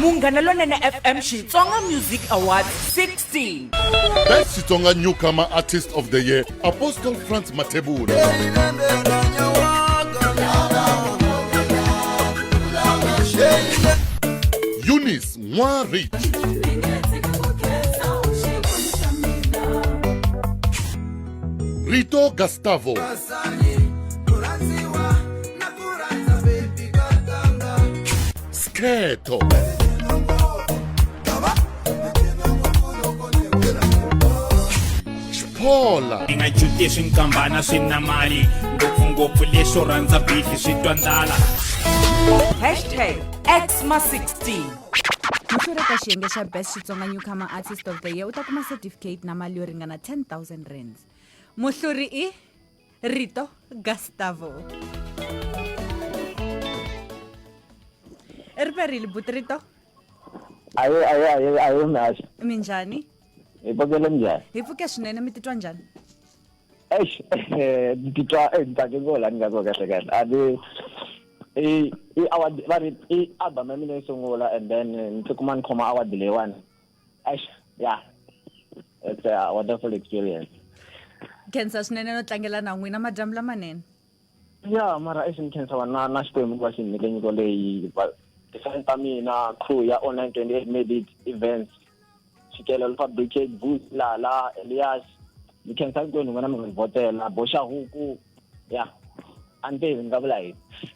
Munghana Lonene FM Xitsonga Music Awards 16. Best Xitsonga Newcomer Artist of the Year, Apostle Franz Mathebula. Eunice Nwa Rich. Rito Gustavo. sikhetho xiphola ni nga juti swi nkambana swi na mali ngopfungopfu leswo rhandza bifi swi twa ndlala hashtag xma 16 muhluri eka xiyenge xa best xitsonga newcomer artist of the year u ta kuma certificate na mali yo ringana 10000 rands muhluri i Rito Gustavo. ri perile buti rito ayo ayo ayo ayo mihasho minjhani hi pfukele njhani hi pfuke swinene mi titwa njhani eish ni titwa eh, ni tsake ngo la ni nga ko kahle kahle a ni i i award va ri i album ya mina yi sungula and then ni tikuma ni khoma award leyiwani Eish, yeah. It's a wonderful experience. khensa swinene no tlangela na n'wina madyambu lamanene ya mara eish ni khensa va na na xikwembu va xi ni nyike nyiko leyi va tifani ta mina crew ya online 28 made it events xikelelo swa brigade bus lala elias ni khensa hinkwenu n'wina mi nga ni vhotela boxa huku ya a ni tivi ni nga vula yini